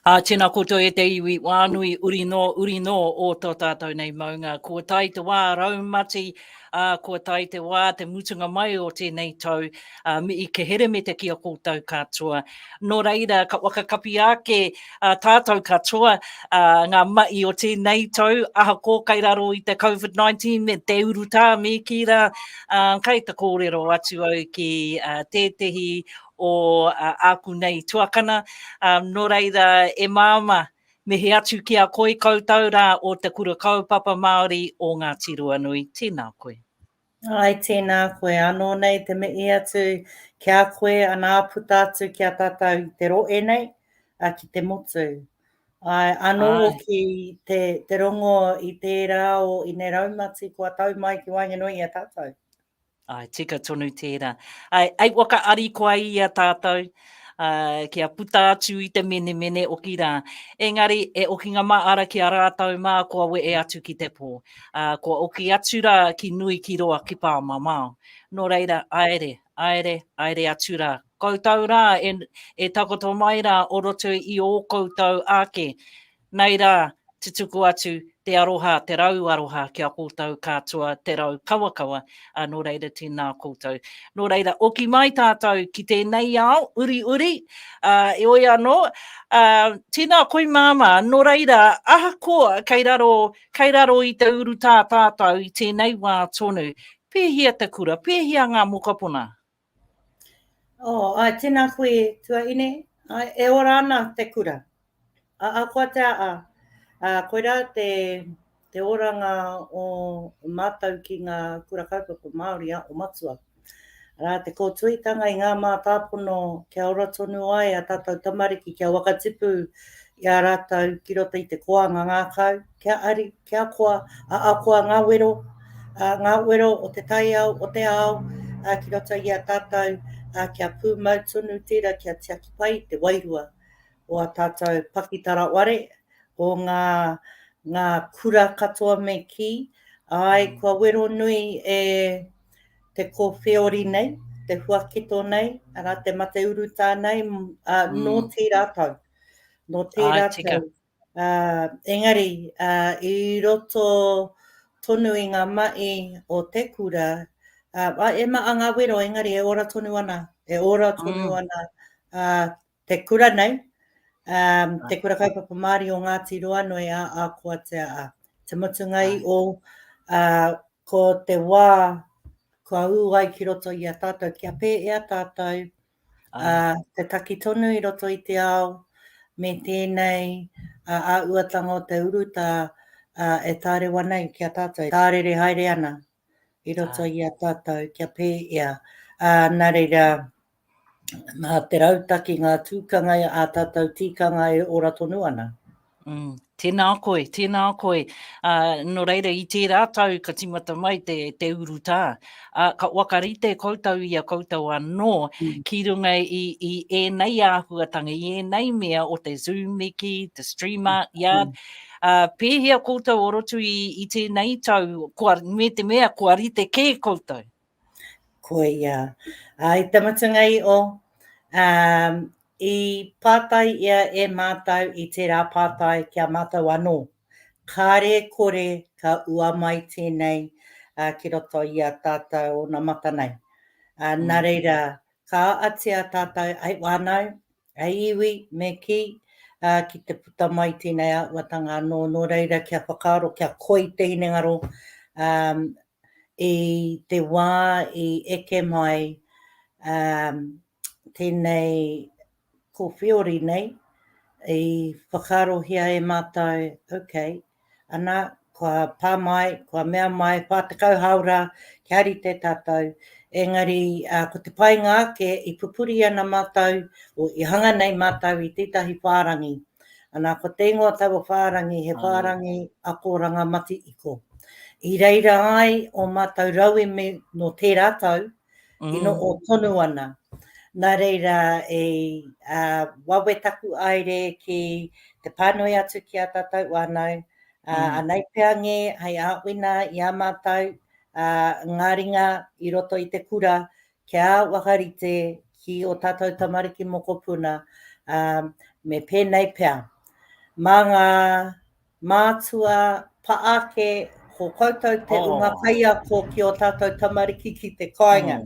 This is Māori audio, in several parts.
Ā, tēnā koutou e te iwi, wā nui, uri nō, uri nō o tō tātou nei maunga. Kua tae te wā raumati, ā, kua tae te wā te mutunga mai o tēnei tau, ā, me i kehere me te ki a koutou katoa. Nō reira, ka whakakapi ake. a tātou katoa, a, ngā mahi o tēnei tau, ahako kai raro i te COVID-19 me te urutā me kī rā, a, kai te kōrero atu au ki a, tētehi o a, āku nei tuakana, a, nō reira e māma, mihi atu ki a koe koutou rā o Te Kura Kaupapa Māori o Ngāti Ruanui. Tēnā koe. Ai tēnā koe anō nei te mihi atu ki a koe anā puta atu ki a tātou i te rohe nei, ā, ki te motu. Āe, anō hoki te, te rongo i tērā o Ineraumati kua tau mai ki waenganui i a tātou. Āe, tika tonu tērā. Āe, āe waka arikoa i a tātou, uh, kia puta atu i te menemene oki rā. Engari, e okinga mā ara ki a rātau mā kua we e atu ki te pō. Uh, kua oki atu rā ki nui ki roa ki pāmamao. Nō reira, aere, aere, aere atu rā. Koutou rā e, e takoto mai rā o roto i ō koutou ake. Nei rā, tutuku atu te aroha, te rau aroha ki a koutou kātua, te rau kawakawa, ā, nō reira tēnā koutou. Nō reira, oki mai tātou ki tēnei ao uriuri, ā, heoi anō, ā, tēnā koi māmā, nō reira, ahakoa kei raro, kei raro i te urutā tātou i tēnei wā tonu, pēhea te kura, pēhea ngā mokopuna? Oh ai tena koe tuaine ai e ora ana te kura a ahua te aha a koira te te oranga o matou ki nga kura kaupapa Maori a o matua a te kotuitanga i nga matapono kia ora tonu ai a tatou tamariki kia waka tipu i a ratou ki roto i te koanga ngakau kia ari Te Akoa, a Akoa nga wero, a nga wero o te taiao, o te ao, a ki roto i a tatou, a kia pumau tonu tera kia tiaki pai i te wairua o a tatou pakitara ware, o nga, nga kura katoa me ki, ae, kua wero nui e te kowheori nei, te huaketo nei, ara, te mate urutā nei, a, no tera tau, no tera tau. Ā, engari, ā, i roto tonu i ngā mahi o te kura, ā, ā, e maha ngā wero, engari e ora tonu ana, e ora tonu Mm. ana ā, te kura nei, ā, te Kura Kaupapa Māori o Ngāti Roanui ā Ākoatea ā. Te mutunga i ō, ā, ko te wā kua ū ai ki roto i a tātou kia pēhea tātou ā, te taki tonu i roto i te ao me tēnei āhuatanga o te urutā e tārewa ana ki a tātou, tārere haere ana i roto i a tātou kia pēhea. Nā reira, mā te rautaki ngā tūkanga a tātou tikanga e ora tonu ana. Mm, tēnā koe, tēnā koe. Uh, no reira, i tērā tau ka timata mai te, te urutā. Uh, ka wakarite koutou i a koutou anō mm. ki runga i, i ēnei āhuatanga, i ēnei mea o te Zoom miki, te streamer, mm. ia. Mm. Uh, pēhea koutou o roto i, i tēnei tau, kua, me te mea, kua rite kē koutou? Koia. Ā, i te mutunga i o, ā, i pātai ia e Mātou i tērā pātai ki a Mātou anō, Kāre e kore ka ua mai tēnei, ā, ki roto i a tātou onamata nei? Ā, nā reira, ka atia tātou, Hei whānau, hei iwi, me kī, ā, ki te puta mai tēnei āhuatanga anō, nō reira kia whakaaro, kia koi te hinengaro, ā, i te wā i eke mai tēnei kōwhiori nei, i whakaarohia e mātou, ok, ana, kua pā mai, kua mea mai, 40 hāora kia rite tātou, engari ko te painga ake i pupuri ana mātou, i hanga nei mātou i tētahi whārangi. Ana, ko te ingoa taua whārangi, he whārangi ako rangamatikiko. I reira ai o mātou rauemi no tērā tau, i no o tonu ana. Nā reira, e wawe taku aere ki te pānui atu ki a tātou whānau, anei pea ngē hei āwhina i a mātou ngā ringa i roto i te kura, kia whakarite ki ō tātou tamariki mokopuna, ā, me pēnei pea, mā ngā mātua pa ake ko koutou te unga kaiako ki ō tātou tamariki ki te kāinga,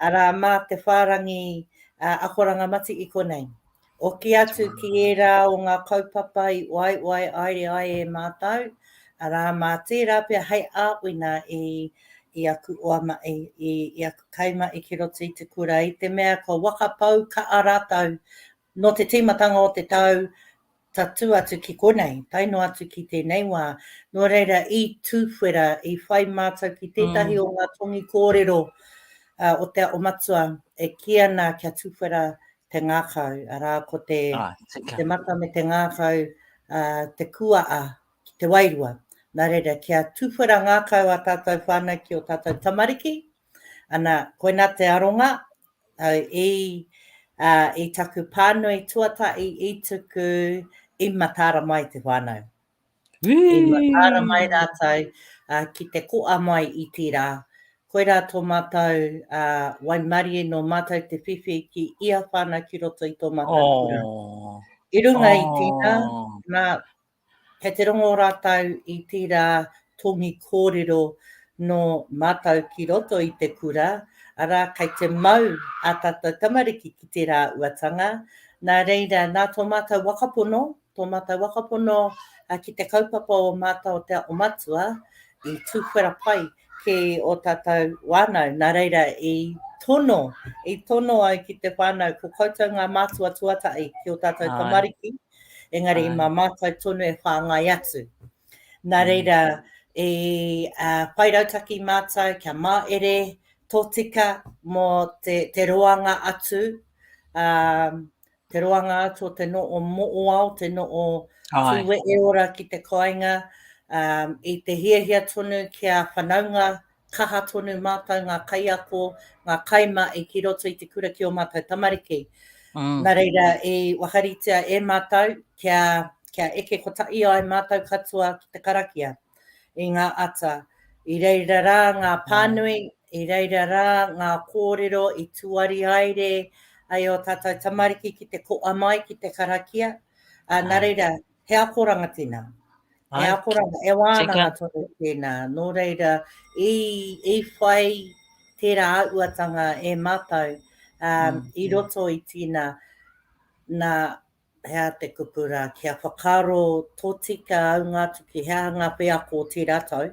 arā, mā te whārangi akoranga mati i konei. Hoki atu ki ērā o ngā kaupapa i uaewae aere ai e mātou, arā, mā tērā pea hei āwina i, i aku oamaʻi, i, i aku kaimaʻi ki roto i te kura, i te mea kua wakapau kaʻa rātou nō te tīmatanga o te tau tatū atu ki konei, tae noa atu ki tēnei wā. Nō reira, i tuwhera, i whai mātou ki tētahi o ngā tongi kōrero o Te Aho Matua e kī ana kia tuwhera te ngākau, arā, ko te, ah, te mata me te ngākau, uh, te kuaa ki te wairua. Nā reira, kia tūwhera ngākau a tātou whānau ki o tātou tamariki, ana, koina te aronga, au i, uh, i taku pānui tuata, i, i tuku, i matāra mai te whānau. I whakaara mai rātou ki te koa mai i tērā. Koirā tō mātou waimarie nō mātou te whiwhi ki ia whānau ki roto i tō mātou kura. I runga i tērā, nā, kei te rongo rātou i tērā tōngi kōrero nō mātou ki roto i te kura, arā, kei te mau ā tātou tamariki ki tērā uatanga, nā reira, nā tō mātou waka pono, tō mātou whakapono ki te kaupapa o mātou o te ako matua i tuwhera pai ki ō tātou whānau, nā reira i tono, i tono au ki te whānau ko koutou ngā mātua tuatahi ki ō tātou tamariki, engari mā mātou tonu e whāngai atu. Nā reira, i whai rautaki mātou kia māere tōtika mō te roanga atu, te roanga atu o te no'o mo'oao, te no'o tūweeora ki te koainga, i te hiahia tonu kia whanaunga kaha tonu mātou ngā kaiako, ngā kaimahi ki roto i te kura ki ō mātou tamariki. Nā reira, i wakaritea e mātou kia eke kotahi ai mātou katoa ki te karakia. i ngā ata. I reira rā ngā pānui, i reira rā ngā kōrero i tuari haere ai ō tātou tamariki ki te koa mai ki te karakia, ā, nā reira, he akoranga tēnā. He Ai. akoranga, e wānanga tonu tēnā. Nō reira, i, i whai tērā auatanga e mātou um, mm. i roto i tīna, nā, Hea te kupu rā, kia whakaaro tōtika au ngā atu ki hea ngā wheako o tērā tau,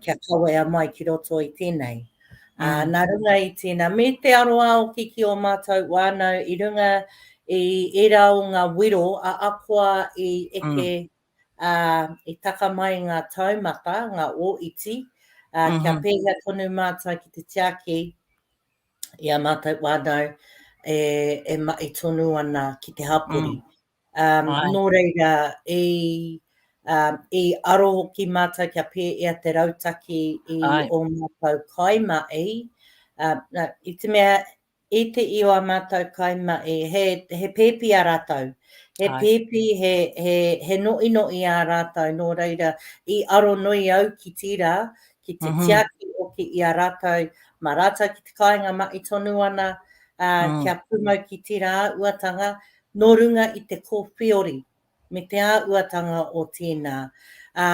kia kawea mai ki roto i tēnei. Ā, nā runga i tēnā, me te aroā hoki ki ō mātou whānau i runga i ērā o ngā wero a Akoa i eke, ā, i taka mai ngā taumata, ngā ō iti, ā, kia pēhea tonu mātou ki te tiaki, i a mātou whānau e, e mahi tonu ana ki te hapori. Mm. Um, Ai. nō reira, i, um, i aro hoki mātou kia pēia te rautaki i Ai. o mātou kaimahi, uh, no, i te mea, i te i o a mātou kaimahi, he, he pēpi a rātou, he Ai. pēpi, he, he, he noʻinoʻi ā rātou, nō reira, i aro nui au ki tira, ki te tiaki hoki i a rātou mā rātou ki te kāinga mahi tonu ana, ā, kia pūmau ki tērā āhuatanga nō runga i te kōwhiori me te āhuatanga o tēnā. Ā,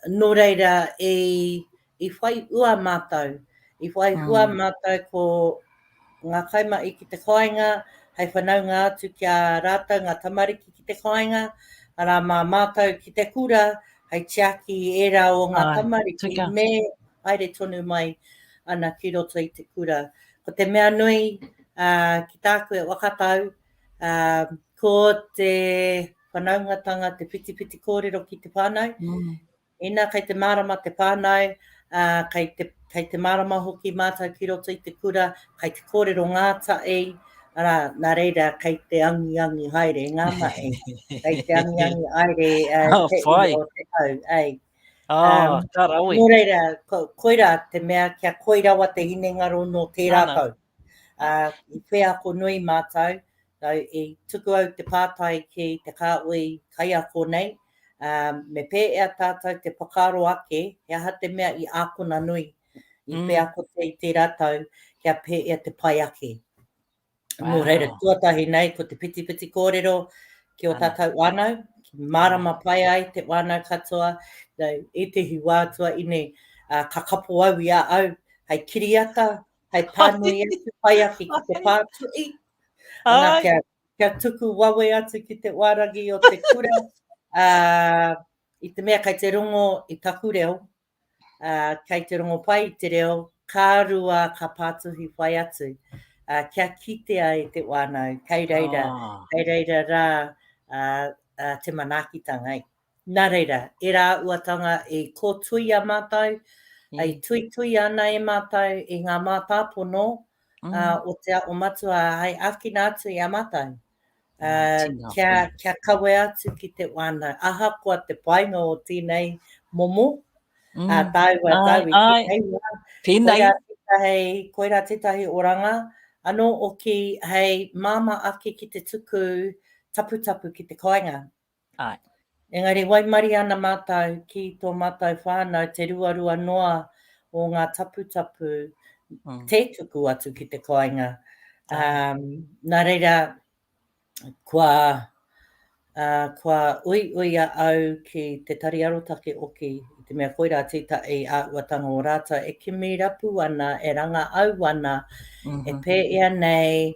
nō reira, i, i whai hua mātou, i whai hua mātou ko. ngā kaimahi ki te kāinga, hei whanaunga atu ki a rātou ngā tamariki ki te kāinga, arā mā mātou ki te kura, hei tiaki i ērā o ngā tamariki me haere tonu mai ana ki roto i te kura. Ko te mea nui ki tāku e whakatau, ko te whanaungatanga, te whitiwhiti kōrero ki te whānau, Ina kei te mārama te whānau, ā, kei te, kei te mārama hoki mātou ki roto i te kura, kei te kōrero ngātahi, arā, nā reira, kei te angiangi haere ngā mahi, kei te angiangi haere uh, te whai. o te tau, ei. Ah, um, ka rawe. Nō reira, ko, koirā te mea kia koi rawa te hinengaro nō tērā Ana. tau. Ā, i wheako nui mātou, nō i tuku au te pātai ki te kāhui kaiako nei, ā, me pēhea tātou te whakaaro ake he aha te mea i ākona nui, i wheakotia i tērā tau kia pēhea te pai ake. Nō reira, tuatahi nei ko te whitiwhiti kōrero ki ō tātou whānau, mārama pai ai te whānau katoa, nō ētehi wā tuaiinei, ā, ka kapo au i a au hei kiriata, hai pānui atu pai aki ki te pātuī, ana kia, kia tuku wawe atu ki te wārangi o te kura, uh, i te mea kai te rongo i taku reo, uh, kai te rongo pai i te reo, kā rua ka pātuhi whai atu, uh, kia kitea e te wānau, kai reira, oh. kai reira rā uh, uh, te manaakitanga. Nā reira, e rā uatanga i kōtuia mātou, i tuituia ana e mātou i ngā mātāpono o Te Aho Matua hai āwhina atu i a mātou kia kawea atu ki te wānau. Ahakoa te painga o tēnei momo, a tāua tau i tēnei wā, koirā tētahi, koirā tētahi oranga anō oki hei māmā ake ki te tuku taputapu ki te kāinga. Āe. Engari waimarie ana mātou ki tō mātou whānau te ruarua noa o ngā taputapu tē tuku atu ki te kāinga. Nā reira, kua, kua uiuia au ki Te Tari Arotake Oki i te mea koirā tētahi āhuatanga o rātou e kimi rapu ana, e rangāau ana, e pēia nei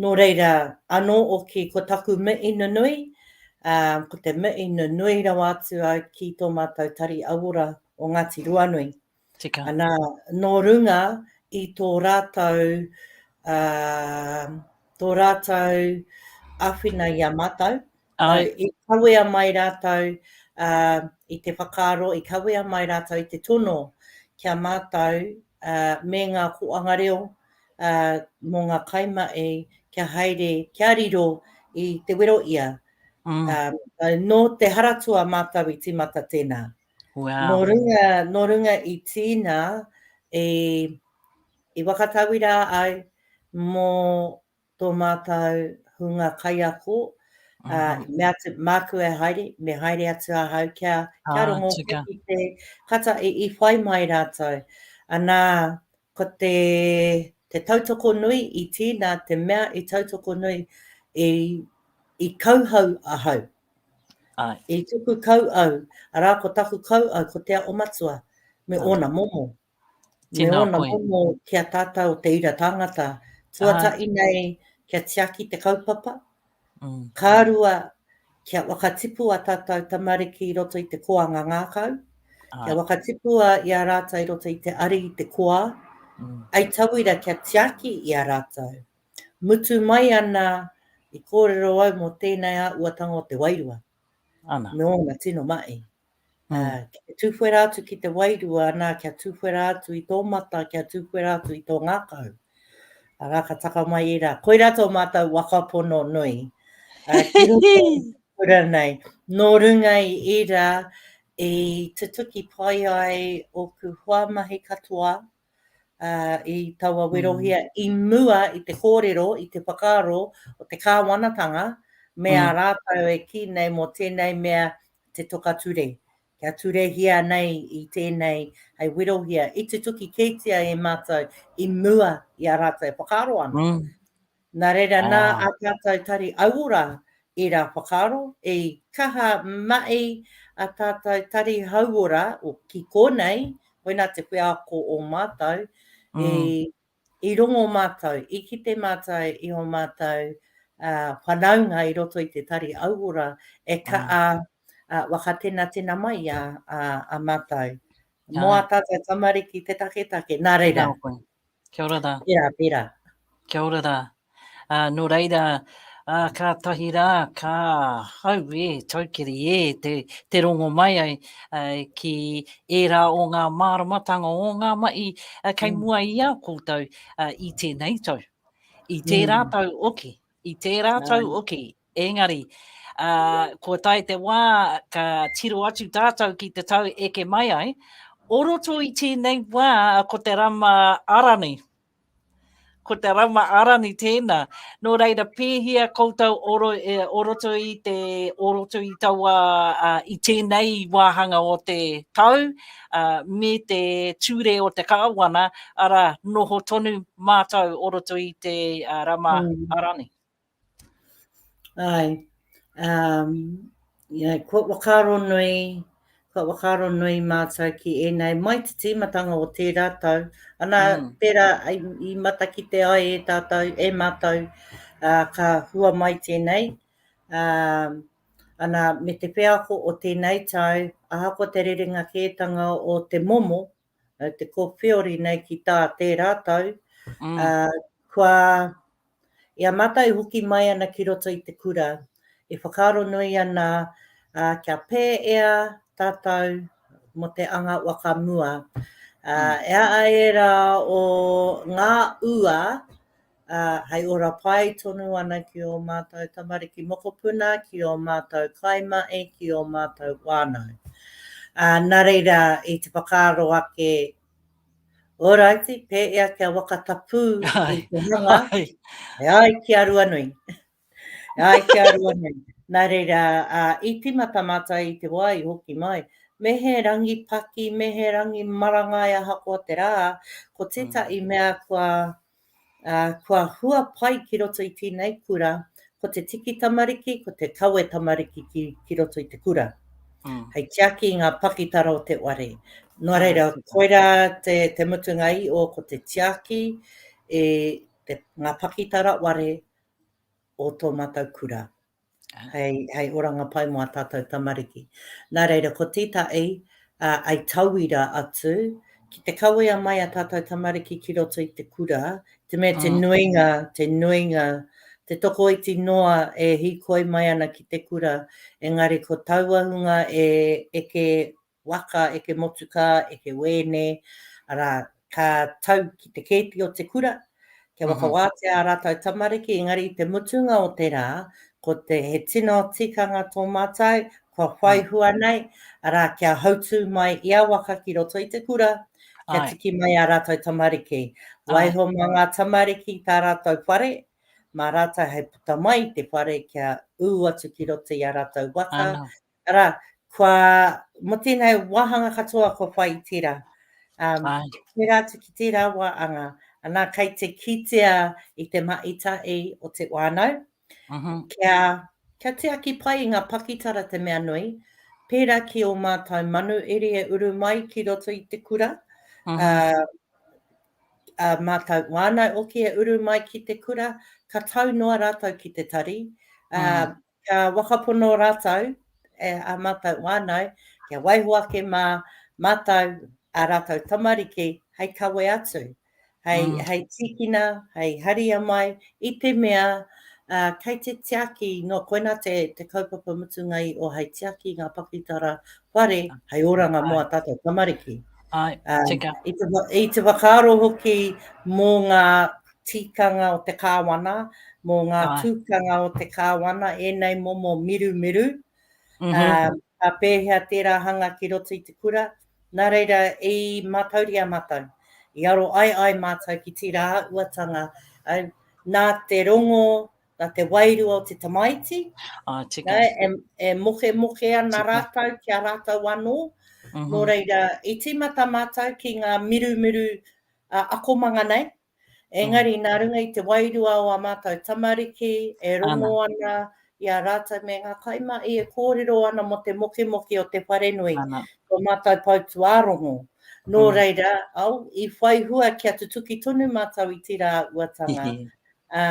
Nō reira anō oki ko taku mihi nunui, ko te mihi nunui rawa atu au ki tō mātou Tari Auora o Ngāti Ruanui. Tika. Ana, nō runga i tō rātou, tō rātou āwhina i a mātou, Āe. I kawea mai rātou i te whakaaro, i kawea mai rātou i te tono ki a mātou me ngā kōanga reo mō ngā kaimahi kia haere, kia riro i te wero ia. Nō te Haratua mātou i tīmata tēnā. Nō runga i tīna i whakatauirā ai mō tō mātou hunga kaiako, ā, i mea atu, māku e haere, me haere atu ahau kia, kia rongo ki te kata i whai mai rātou. Anā, ko te, te tautoko nui i tīna, te mea i tautoko nui, i, i kauhau ahau. Ai. I tuku kau au, arā, ko taku kau au, ko Te Ao Matua, me ōna momo. Me ōna momo ki a tātou te ira tāngata, tuatahi nei kia tiaki te kaupapa, ka rua kia whakatipu a tātou tamariki i roto i te koanga ngākau, kia whakatipua i a rātou i roto i te ari i te koa, hei tauira kia tiaki i a rātou. Mutu mai ana i kōrero au mō tēnei āhuatanga o te wairua, me ōna tino mahi. Ki te tuwhera atu ki te wairua, nā, kia tuwhera atu i tō mata, kia tuwhera atu i tō ngākau. Arā, ka taka mai ērā. Koirā tō mātou waka pono nui. Ki roto i kura nei. Nō runga i ērā, i tutuki pai ai ōku hoa mahi katoa i taua werohia i mua i te kōrero, i te whakaaro o te kāwanatanga me ā rātou e kī nei mō tēnei mea te toka ture, kia turehia nei i tēnei hei werohia, i tutuki kētia e mātou i mua i a rātou e whakaaro ana. Mm. Nā reira, ah. nā a tātou tari auora i rā whakaaro, i kaha mai a tātou tari hauora, o ki kōnei, koina te wheako o mātou, mm. i I rongo mātou, i kite mātou i ō mātou whanaunga i roto i te tari auora e kaa wakatenatena mai a mātou. Mo a tātou tamariki te taketake, nā reira. Kia ora ra. Pera, pera. Kia ora ra. Ā, nō reira, ā, kātahi rā, ka, auē, taukiri ē, te, te rongo mai ai, ā, ki ērā o ngā māramatanga o ngā mahi, ā, kei mua i a koutou, ā, i tēnei tau, i tērā tau hoki, i tērā tau hoki, engari, ā, kua tae te wā ka tiro atu tātou ki te tau eke mai ai, o roto i tēnei wā ko te rama ara nei, Ko te Rauma Arani tēnā. Nō reira, pēhea koutou oro, e, o roto i te, o roto i taua, a, i tēnei wāhanga o te tau, a, me te ture o te kāwana, arā, noho tonu mātou o roto i te a, Rauma Arani? Āe, um, yeah, kua whakaaro nui, kua whakaaro nui mātou ki ēnei mai te tīmatanga o tērā tau. Ana, mm. tērā i, i matakite ai e tātou, e mātou, uh, ka hua mai tēnei. Um, ana, me te wheako o tēnei tau, ahako te rerenga kētanga o te momo, no te kowhiori nei ki tā tērā tau, ā, kua, i a mātou e hoki mai ana ki roto i te kura, e whakaaro nui ana, ā, kia pēea tātou mō te anga waka mua. Ā, e a ērā o ngā ua, ā, hei ora pai tonu ana ki ō mātou tamariki mokopuna, ki ō mātou kaimahi, ki ō mātou whānau. Ā, nā reira, i te whakaaro ake, Ōraiti, pēea kia waka tapū i te hanga, e ai ki a Ruanui. E ai ki a Ruanui. Nā reira, ā, i tīmata mātou i te wā i hoki mai, me he rangi paki, me he rangi marangai ahakoa te rā, ko tētahi mea kua Ā, kua hua pai ki roto i tēnei kura, ko te tiki tamariki, ko te kawe tamariki ki, ki roto i te kura. Mm. Hei tiaki i ngā pakitara o te ware. Nō reira, koirā te, te mutunga i o ko te tiaki e te, ngā pakitara ware o tō mātou kura. hei oranga pai mō ā tātou tamariki. Nā reira, ko tētahi, āe tauira atu, ki te kawea mai ā tātou tamariki ki roto i te kura, te mea te nuinga, te nuinga, te tokoiti noa e hīkoi mai ana ki te kura, engari ko taua hunga e eke waka eke motukā, eke wēne, arā, ka tau ki te kēti o te kura, kia whakawātea ā rātou tamariki, engari i te mutunga o te rā, ko te, he tino tikanga tō mātou, kua whai hua nei, arā, kia hautū mai ia waka ki roto i te kura, kia tiki mai ā rātou tamariki. Waiho mā ngā tamariki i tā rātou whare, mā rātou hei puta mai i te whare kia ū atu ki roto i ā rātou waka, Arā, kua, mō tēnei wāhanga katoa kua whai i tērā. Um, tērā atu ki tērā wā anga, anā kei te kitea i te maita i o te wānau, uh -huh. kia, kia te aki pai i ngā pakitara te mea nui, pērā ki o mātou manu iri e uru mai ki roto i te kura, uh -huh. uh, uh, mātou wānau oki e uru mai ki te kura, ka tau noa rātou ki te tari, uh, uh -huh. Kia whakapono rātou e ā mātou whānau kia waiho ake mā mātou ā rātou tamariki hei kawe atu, hei, hei tīkina, hei haria mai i te mea kei te tiaki nō koinā te, te kaupapa mutunga i o hei tiaki i ngā pakitara whare hei oranga mō ā tātou tamariki. Ai, tika. I te, i te whakaaro hoki mō ngā tikanga o te Kāwana, mō ngā tukanga o te Kāwana, ēnei momo mirumiru, ka pēhea tērā hanga ki roto i te kura, nā reira i mātauria mātou, i aroai ai mātou ki tērā uatanga, nā te rongo, nā te wairua o te tamaiti, e mokemoke ana rātou ki a rātou anō, nō reira i tīmata mātou ki ngā mirumiru akomanga nei, engari nā runga i te wairua o ā mātou tamariki e rongo ana i a rātou me ngā kaimahi e kōrero ana mō te mokemoke o te wharenui, tō mātou pou tuārongo. Nō reira, au, i whai hua kia tutuki tonu mātou i tērā uatanga, ā,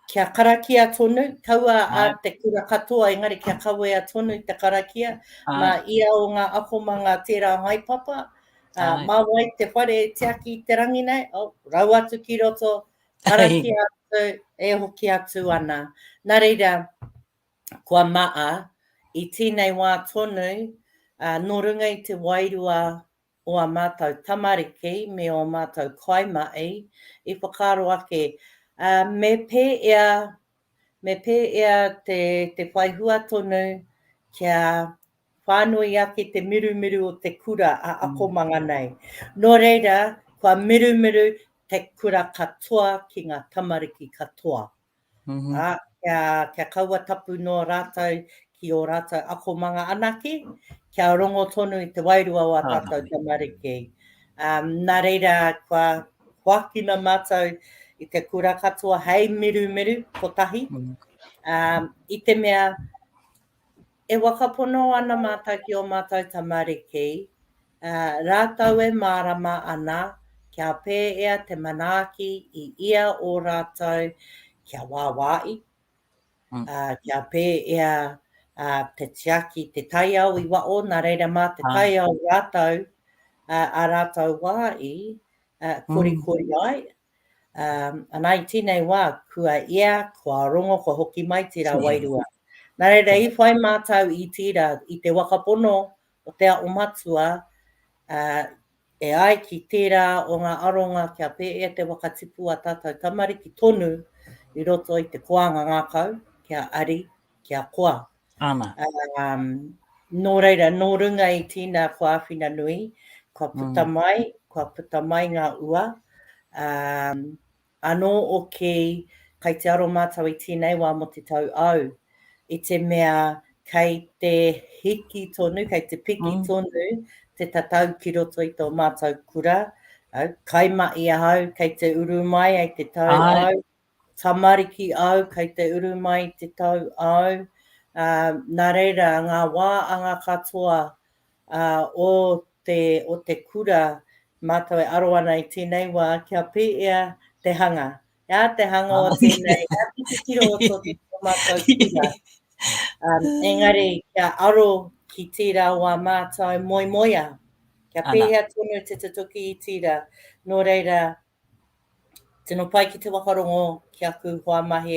Kia karakia tonu, kaua a te kura katoa engari kia kawea tonu te karakia, ma ia o nga akomanga tera haepapa, ma wai te whare e tiaki i te rangi nei, oh, rau atu ki roto, karakia atu, e hoki atu ana. Na reira, kua maa, i tenei wa tonu, no runga i te wairua o ā mātou tamariki me ō mātou kaimahi i whakaaro ake, ā, me pēia, me pēia te, te whai hua tonu kia whānui ake te mirumiru o te kura a akomanga nei. Nō reira, kua mirumiru te kura katoa ki ngā tamariki katoa. Mm-hmm. Ā, kia, kia kaua tapu noa rātou ki ō rātou akomanga anake, kia rongo tonu i te wairua o a tātou tamariki. Um, nā reira, kua hoakina mātou i te kura katoa hei mirumiru kotahi. Mm. Um, I te mea, E whakapono ana mātou ki ō mātou tamariki, ā, rātou e mārama ana kia pēea te manaaki i ia o rātou kia wāwaai, ā, kia pēea te tiaki, te taiao i waho, nā reira mā te taiao rātou, ā rātou wā i korikori ai, Ana i tinei wa, kua ia, kua rongo, kua hoki mai tira wairua. Na reira i whai matou i tira i te waka pono o te Ao Matua, e ai ki tera o nga aronga kia peea te waka tipu a tatou tamariki tonu i roto i te koanga ngakau kia ari, kia koa. Ana. Um, nō reira, nō runga i tīna whāwhina nui, kua puta mm. mai, kua puta mai ngā ua. Um, anō o ki, kai te aro mātou i tīnei wā mo te tau au, i te mea kai te hiki tonu, kai te piki mm. tonu te tatau ki roto i tō mātou kura, au, kai ma i ahau, kai te uru mai ai te tau ai, au, tamariki au, kei te uru mai te tau au, ā, nā reira, ngā wā anga katoa, ā, o te, o te kura, mātou e aro ana i tēnei wā, kia pēea te hanga, ā, te hanga o tēnei, ngā titiro o tō mātou kura. Engari, kia aro ki tērā wā mātou moemoea. Kia pēhea tonu te tutuki i tira, nō reira, tino pai ki te whakarongo ki aku hoa mahi